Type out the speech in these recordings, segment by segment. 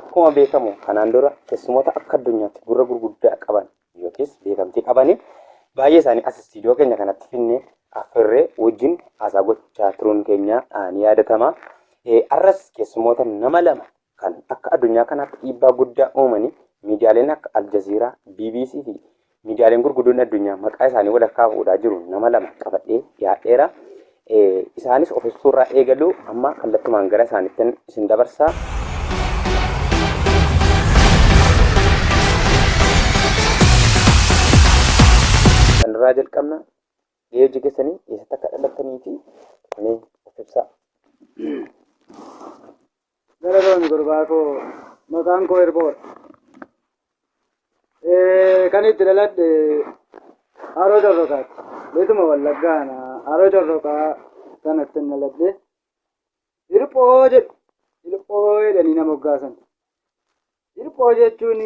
Akkuma beekamu kanaan dura teessumota akka addunyaatti gurra gurguddaa qaban yookiis beekamtii qabani baay'ee isaanii as istiidiyoo keenya kanatti finne affeerree wajjin haasaa gochaa turuun keenya ni yaadatama. Arras keessumoota nama lama kan akka addunyaa kanaatti dhiibbaa guddaa uumanii miidiyaaleen akka Aljaziiraa, BBC fi Miidiyaaleen gurguddoon addunyaa maqaa isaanii wal harkaa fuudhaa jiru nama lama qabadhee dhiyaadheera. Isaanis of ibsuu irraa eegalu amma kallattumaan gara isaaniittin isin dabarsa. Kanarraa jalqabna gahee hojii keessanii eessatti akka dhalattanii fi mee of ibsaa. Galatoomi gurbaa koo maqaan koo Irboodha. Kan itti dhaladhe Haroo Corroqaati. Beetuma Wallaggaana Haroo Corroqaa kanatti hin dhaladhe. Hirphoo jedhu hirphoo jedhanii nama hoggaasan. Hirphoo jechuun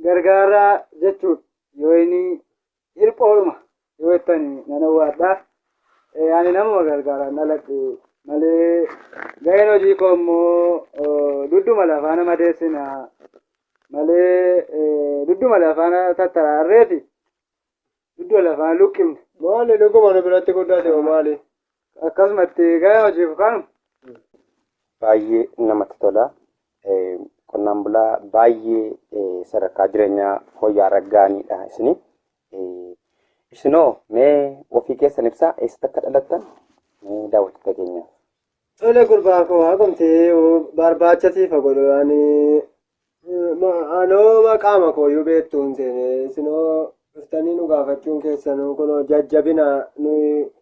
gargaaraa jechuudha. Yoo inni Hirpha oluma yoo jettan nan owwaadha. Ani namuma gargaaraan dhaladhe malee gaheen hojii koo immoo dudduma lafaa nama deessina malee dudduma lafaa tattaraarreeti dudduma lafaa luqqifne. Maali dhuguma nu biratti guddate hoo maali? Akkasuma itti eegaa hojiif kaanu. Baay'ee namatti tola. Eh, Qonnaan bulaa baay'ee eh, sadarkaa jireenyaa fooyya'aa irra ga'aniidha isini. Eh, Isinoo mee ofii keessan ibsaa eessatti akka dhalattan mee daawwattoota keenyaaf. Tole gurbaa koo haqumti barbaacha siifa godhu ani anoo maqaama koo iyyuu beektu hin seene isinoo dhuftanii nu gaafachuun keessanuu kunoo jajjabina nuyi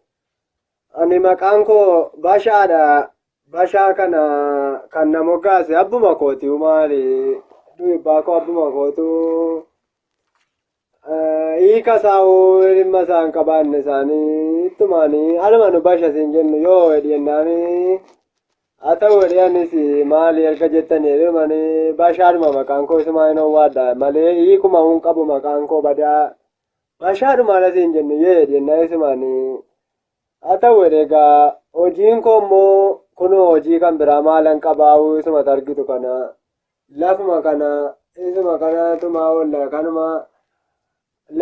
Ani maqaan koo Bashaadha. Bashaa kana kan na moggaase abbuma kooti maali? Duubbaa koo abbuma kootu hiika isaa hoo dhimma isaa hin qabaanne isaanii ittumaanii anuma nu basha siin jennu yoo hedhi jennaanii haa ta'u hedhi anis maali erga jettanii hedhumanii bashaadhuma maqaan koo isumaa hin owwaadha malee hiikuma hin qabu maqaan koo badaa Mashaadhu maala siin jennu yee jennaa isumaanii haa ta'u edegaa hojiin koo immoo kunoo hojii kan biraa maalan qabaa'uu isuma targitu kana lafuma kana isuma kana tumaa olla kanuma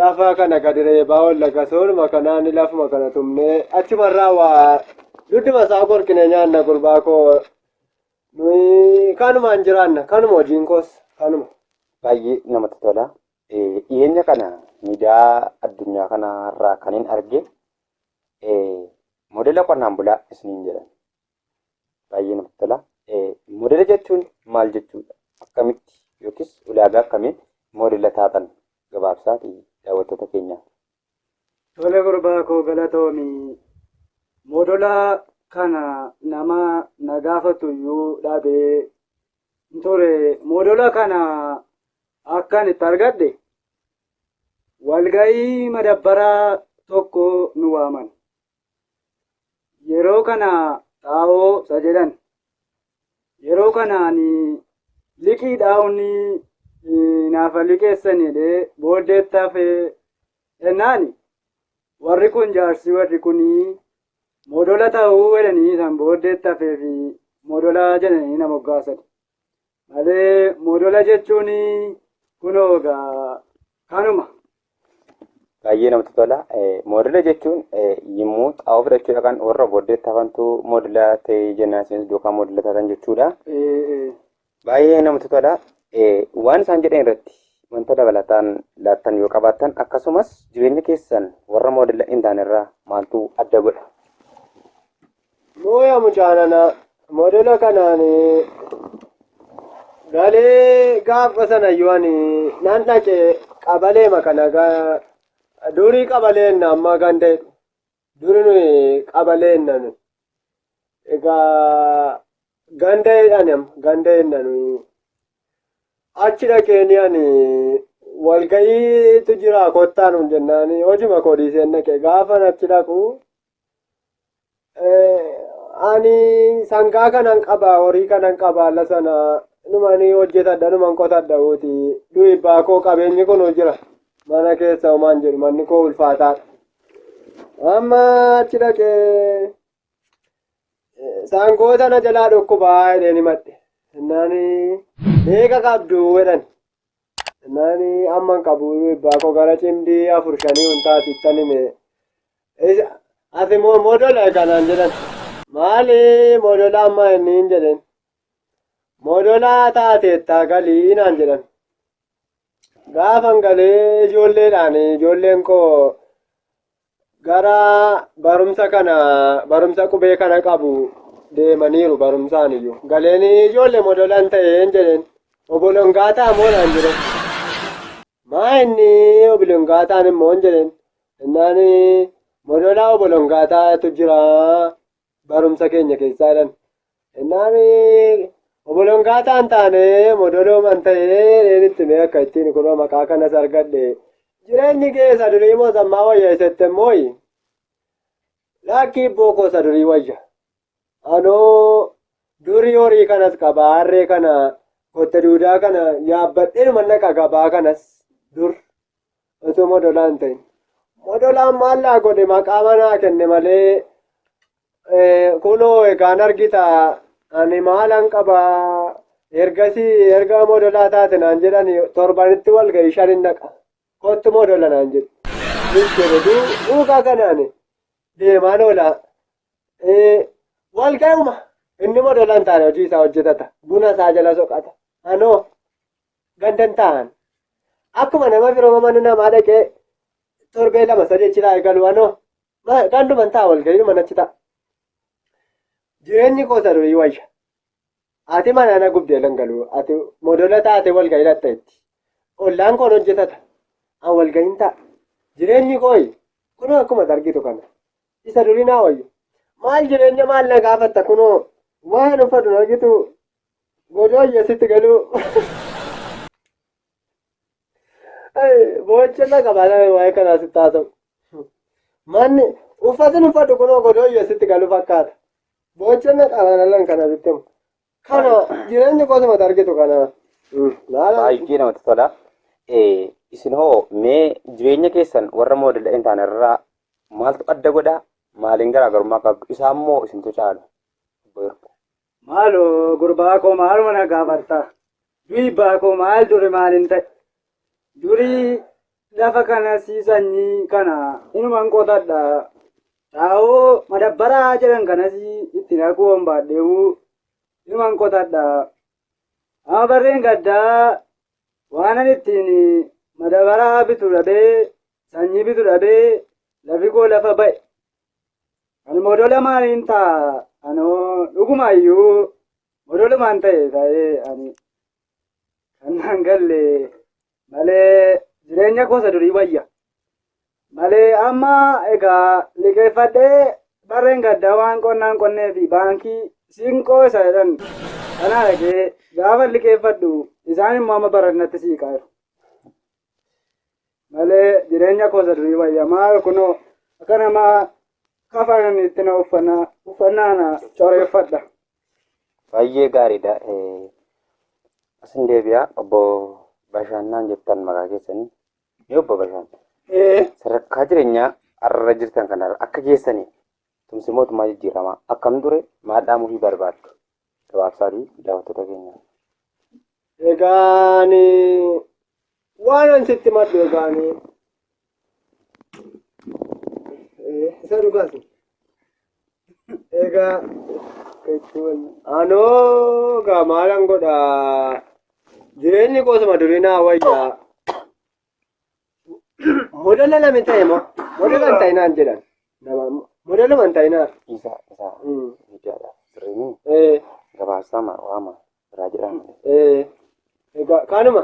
lafa kana gadi reebaa olla gasooluma kanaan lafuma kana tumnee achumarraa waa dudduma isaa qorqinee nyaanna gurbaa koo nuyi kanumaan jiraanna kanuma hojiin koos kanuma. Baay'ee namatti tola. Dhiyeenya kana miidiyaa addunyaa kanarraa kanin arge modela qonnaan bulaa isiniin jedhan. Baay'ee namatti tola. Modela jechuun maal jechuudha? Akkamitti yookiis ulaagaa akkamiin modela taatan gabaabsaati daawwattoota keenyaaf. Tole gurbaa koo galatoomi. Modela kana nama na gaafatu iyyuu dhabee ture moodola kana akkan itti argadhe walga'ii madabbaraa tokko nu waaman yeroo kana xaa'oo isa jedhan yeroo kanaan liqii dhaa'uuni naafa liqeessanidhe booddeetti hafee jennaan warri kun jaarsi warri kun Modola ta'uu jedhanii san booddeetti hafee fi modola jedhanii na moggaasan. Malee modola jechuun kunoo egaa kanuma. Baay'ee namatti tola. Moodela jechuun yommuu xaa'oo fudhachuu dhaqan warra booddeetti hafantu moodela ta'e jennaan isinis duukaa moodela taatan jechuudha. Baay'ee namatti tola. Waan isaan jedhan irratti wanta dabalataan laattan yoo qabaattan akkasumas jireenya keessan warra moodela hin taane irraa maaltu adda godha? Mooya mucaanana moodela kanaan galee gaafa sana yoon nan dhaqe qabaleema kana durii qabaleen amma ganda Duri nuyi qabalee jenna nuyi. Egaa ganda jedhan amma ganda jenna nuyi. Achi dhaqeenii ani walga'iitu jira kottaa nuun jennaani hojuma koo dhiiseen dhaqe gaafan achi dhaqu ani sangaa kanan qaba horii kanan qaba alla sana numani hojjetadha numan qotadha uuti du'ibbaa koo qabeenyi kun jira mana keessa homaan jedhu manni koo ulfaataadha Amma achi dhaqee sangoota na jalaa dhukkubaa jedheen himadhe. Naani beeka qabdu jedhan. Naani amma hin qabu ebbaa koo gara cimdii afur shanii hundaati ittan hime. Isa- Ati moo modola kanaan jedhan. Maali modola amma inni hin jedhen. Modola taateetta galii naan jedhan. Gaafan galee ijoolleedhaan ijoolleen koo gara barumsa kana barumsa qubee kana qabu deemaniiru barumsaan iyyuu. Galeen ijoollee modolaan ta'een jedheen obolongaataa moo naan jedheen. Maa inni obolongaataan immoo hin jedheen. Innaan modolaa obolongaataatu jira barumsa keenya keessaa jedhan innaan oboloon gaataan taane modolooman ta'ee reenitti mee akka ittiin kunoo maqaa kanas argadhe jireenyi kee isa durii moo sammaa wayya isette mooyi laakkii bookoo isa durii wayya anoo durii horii kanas qaba harree kana kotte duudaa kana yaabbadheen mannaqa gabaa kanas dur Otoo modolaa hin ta'in. Modolaan maal naa godhe maqaama naa kenne malee kunoo egaan argita ani maalan qaba ergasii erga modolaa taate naan jedhan torbanitti wal ga'ii shan hin dhaqa kottu modola naan jedhu. Duukaa kanaan deemaan oola wal ga'uma inni modola hin taane hojii isaa hojjetata buna isaa jala soqata anoo gandan ta'an akkuma nama biroo mana namaa dhaqee torbee lama sadii achi taa'e galu anoo ganduman ta'a walga'iidhuma nachi ta'a jireenyi koo sadurii wayya ati mana na gubdee lan galu ati modola taate walga'ii dhatta itti ollaan koon hojjetata an walga'iin ta'a jireenyi kooyi kunoo akkuma argitu kana isa durii naa wayya maal jireenya maal na gaafatta kunoo waan uffatu argitu Godooyya sitti galuu. Boochirra qaba nama waa'ee kanaa sitti haasa'u. Manni uffatin uffadhu kunoo godooyya sitti galu fakkaata. Boochirra qaba nama kana sitti himu. Kana jireenyi kosuma argitu kana. Baay'ee namatti tola. Eh, Isin hoo mee jireenya keessan warra moodela hin taane irraa maaltu adda godha? Maaliin garaagarummaa qabdu? Isaa immoo isintu caala. Obbo Yordaa. Maaloo gurbaa koo maaluma na gaafarta? Du'i abbaa koo maal duri maalin ta'e? Durii lafa kana sii sanyii kana inuman qotadha. Xaa'oo madabbaraa jedhan kanas itti naquu hombaadheewu inuman qotadha. Amma barreen gaddaa waanan ittiin madabaraa bitu dhabee sanyii bitu dhabee lafi koo lafa ba'e Ani modola maaliin ta'a anoo dhuguma iyyuu modolumaan ta'e ta'ee ani kan naan galle malee jireenya koosa durii wayya. Malee amma egaa liqeeffadhee barreen gaddaa waan qonnaan qonnee fi baankii siinqoo isa jedhan kanaa dhaqee gaafa liqeeffadhu isaan immoo amma barannatti siiqaa jiru. malee jireenya koo isa durii wayya maal kunoo akka nama kafanan itti na uffannaa uffannaa na coreeffadha. Baay'ee gaariidha. Eh, Asin deebi'a obbo Bashaannaan jettan maqaa keessanii. Mee obbo Bashaan Ee sadarkaa jireenyaa har'a jirtan kanarra akka keessanii tumsi mootummaa jijjiiramaa akkam ture maal dhaamuufii barbaaddu? Gabaabsaati daawwattoota keenya. Egaani waan an sitti maddu egaani. Isa dhugaasi. Egaa jechuun anoo egaa maalan godha jireenyi koo suma durii naa wayyaa. Modela lame ta'e moo modela hin ta'inaan jedhan nama modeluma hin ta'inaan. Isa isa Mm. miidiyaadha. Sirriin Eh, gabaasaa maa waama biraa jedhamu. eh, egaa kaanuma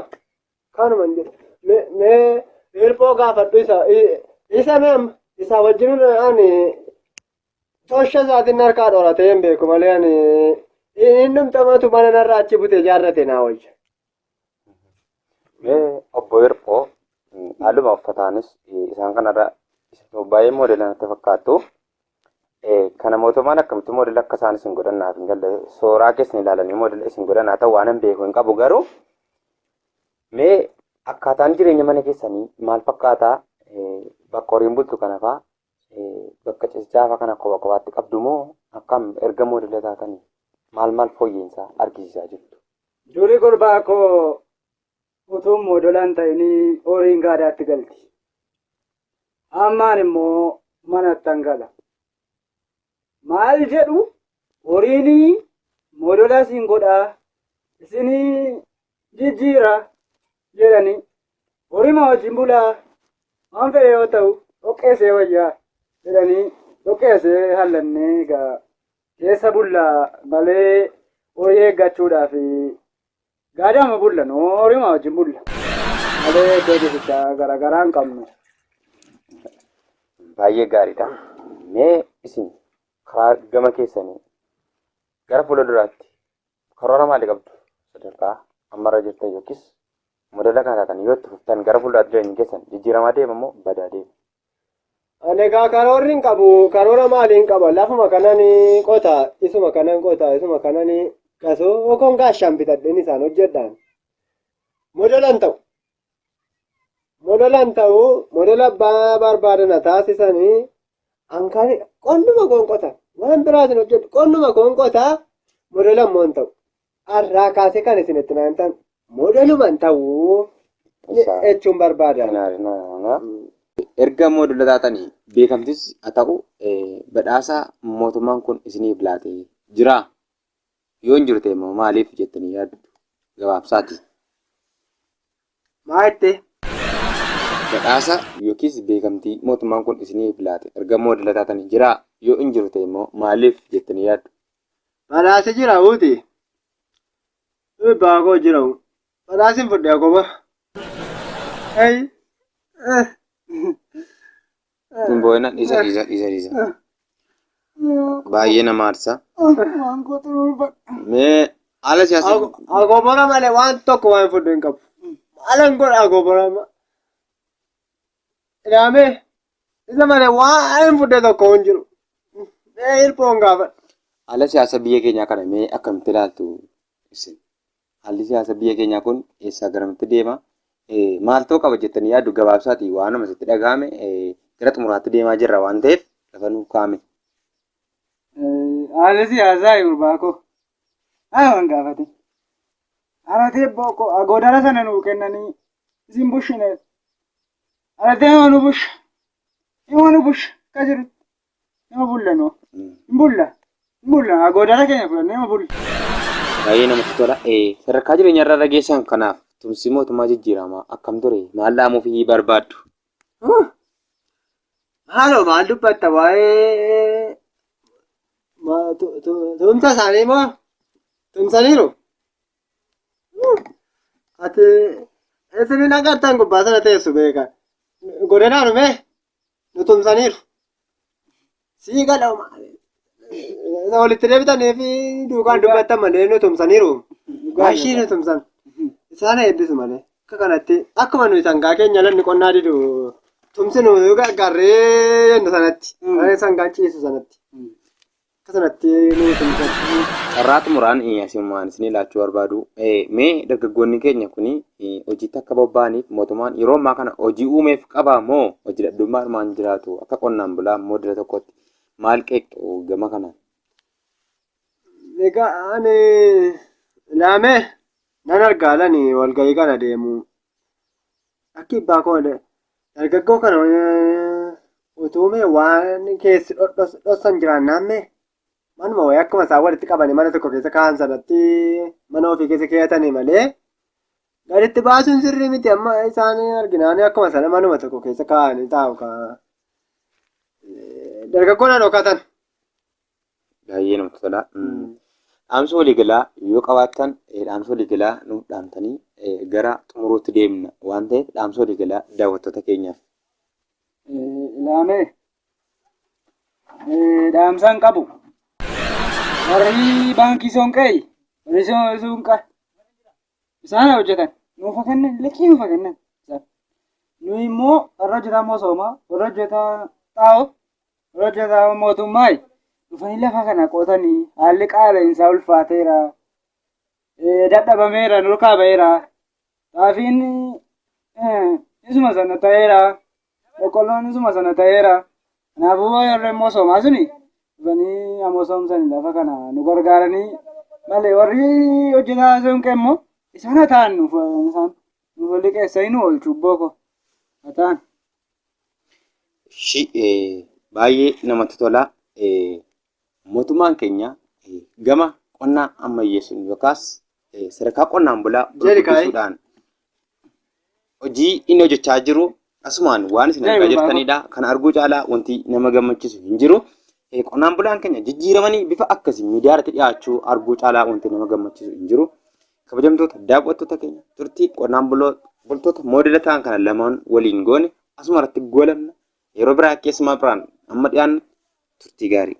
kaanuma hin jedhu mee mee hirphoo gaafadhu isa i- isa mee amma isa wajjin ani tosha isaatiin harkaa dhoratee hin beeku malee ani hin dhumtamatu mana narraa achi butee jaarrate naa wayya. Mee obbo Hirphoo haaluma uffataanis isaan kanarra baay'ee moodeela natti fakkaattu. Kana mootummaan akkamitti moodeela akka isaan isin godhan naaf hin galle sooraa keessan ilaalanii moodeela isin godhan haa ta'u waan hin beeku hin qabu garuu mee akkaataan jireenya mana keessanii maal fakkaataa bakka horiin bultu kanafaa Bakka cesjaafa kana kopha kophaatti qabdu moo akkam erga moodela taatanii maal maal fooyya'insa argisiisaa jirtu? Duri gurbaa koo utuun moodola hin ta'inii horiin gaadaatti galti. Ammaan immoo manattan gala. Maal jedhu horiinii moodola isin godhaa isinii jijjiira jedhanii horima wajjin bulaa waan fedhe yoo ta'u dhoqqeessee wayyaa jedhanii dhoqqeessee hallannee egaa keessa bulla malee horii eeggachuudhaaf gaadama bulla noo horima wajjin bulla malee iddoo ciisichaa garaagaraa hin qabnu. Baay'ee gaariidha. Mee isin karaa gama keessanii gara fuula duraatti Karoora maalii qabdu? Sadarkaa ammarra jirtan yookiis modela kana taatan yoo itti fuftan gara fuulduraatti jireenyi keessan jijjiiramaa deema moo badaa deema? Ani egaa karoorri hin qabu. Karoora maalii hin qaba? Lafuma kanan qota, isuma kanan qota, isuma kanan qasoo yookaan gaashaan bitadheen isaan hojjedhaan. Modelan ta'u. modelan ta'u modela abbaa barbaadana taasisanii hankaan qonnuma qoonqota waan biraatiin hojjedhu qonnuma qoonqota modela immoo hin ta'u har'aa kaasee kan isin itti naan ta'an modeluma hin ta'u jechuun barbaada. Erga moodela taatanii beekamtis haa ta'u badhaasa mootummaan kun isiniif laatee jira. Yoo hin jiru ta'e immoo maaliif jettanii yaaddu? Gabaabsaati. Maa jettee? Badhaasa yookiis beekamtii mootummaan kun isiniif laate erga moodela taatanii jiraa? Yoo hin jiru ta'e immoo maaliif jettanii yaaddu? Badhaasa jira uuti. Dhibbaa koo jira uu. Badhaasin fudhee akkuma. Hey. Ittiin boo'ina dhiisa dhiisa dhiisa dhiisa. Baay'ee nama aarsa. Waan gootu dhuunfadha. Mee haala siyaasa Agobara malee waan tokko waan fudhu hin qabu. Maalan godha agobara ma. Ilaame isa malee waan hin fudhe tokko hin jiru. Mee hirphoon gaafadha. haala siyaasa biyya keenyaa kana mee akkamitti ilaaltu isin? Haalli siyaasa biyya keenyaa kun eessaa garamitti deema? Maal ta'uu qaba jettanii yaaddu? Gabaabsaati waanuma sitti dhagahame gara xumuraatti deemaa jirra waan ta'eef lafa nuuf kaa'ame. Haalli siyaasaa gurbaa koo ana waan gaafate. Aratee abboo koo agoodara sana nuu kennanii isin bushineef. Aratee nama nu busha. Nama nu busha akka jirutti. Nama bulla noo. Hin bulla. Hin bulla. Agoodara keenya fudhannee nama bulla. Baay'ee namatti tola. Eh, Sadarkaa jireenya irra geessan kanaaf tumsi mootummaa jijjiiramaa akkam ture? Maal dhaamuuf iyyii barbaaddu? Huh! Maaloo maal dubbatta waa'ee ma- tu- tu- tumsa isaanii moo tumsaniiru? Huh! Ati isin hin agartan gubbaa sana teessu beeka. Godinaa dhume nu tumsaniiru. Sii galoma. Isa walitti deebitanii fi duukaan dubbattan malee nu tumsaniiru. Ashii nu tumsan. Isaan eebbisu malee. Akka kanatti akkuma nuyi sangaa keenya lanni qonnaa didu tumsinu gargaarree jennu sanatti. Sangaan ciisu sanatti. Akka sanatti nu tumsachuu carraa xumuraan asinumaan isinii laachuu barbaadu. Mee dargaggoonni keenya kun hojiitti akka bobba'aniif mootummaan yeroo ammaa kana hojii uumeef qaba moo hojii dhabdummaa armaan jiraatu akka qonnaan bulaa immoo dira tokkotti maal qeeqxu gama kanaan? Egaa ani laamee nan argaalani walgahii kana deemu. Akki abbaa koo dargaggoo kana utuu mee waan keessi dhossan jiraannaan mee manuma wayii akkuma isaan walitti qabanii mana tokko keessa kaa'an sanatti mana ofii keessa keeyatanii malee gaditti baasuun sirrii miti amma isaan arginaan akkuma sana manuma tokko keessa kaa'anii taa'u kaa dargaggoon haadhokatan. Baay'ee namatti tola. Dhaamsa waliigalaa yoo qabaattan dhaamsa waliigalaa nuuf dhaamtanii gara xumuruutti deemna waan ta'eef dhaamsa waliigalaa daawwattoota keenyaaf. Ilaamee dhaamsaan qabu warri baankii soonqee warri soonqa isaan hojjetan nuuf kennan liqii nuuf kennan nuyi immoo warra hojjetaa moosooma warra hojjetaa xaa'oo Warra jazaa'oo mootummaa dhufanii lafa kana qotanii haalli qaala'insaa ulfaateera. Dadhabameera, nurkaa ba'eera. Xaafiin isuma sana ta'eera. Boqqolloon isuma sana ta'eera. Kanaafuu warri immoo soomaa suni dhufanii ammoo soomsanii lafa kana nu gargaaranii malee warri hojjetaa soonqee immoo isaan hataan nuuf isaan nuuf liqeessanii nu oolchu booko hataan. Shi baay'ee namatti tola. Mootummaan keenya gama qonnaa ammayyeessuun yookaas sadarkaa qonnaan bulaa gurguddisuudhaan hojii inni hojjechaa jiru asumaan waan isin argaa jirtanidha. Kana arguu caalaa wanti nama gammachiisu hin jiru. Qonnaan bulaan keenya jijjiiramanii bifa akkasii miidiyaa irratti dhiyaachuu arguu caalaa wanti nama gammachiisu hin jiru. Kabajamtoota daawwattoota keenya turtii qonnaan bultoota moodela ta'an kana lamaan waliin goone asuma irratti goolabna. Yeroo biraa keessumaa biraan amma dhiyaannu turtii gaarii.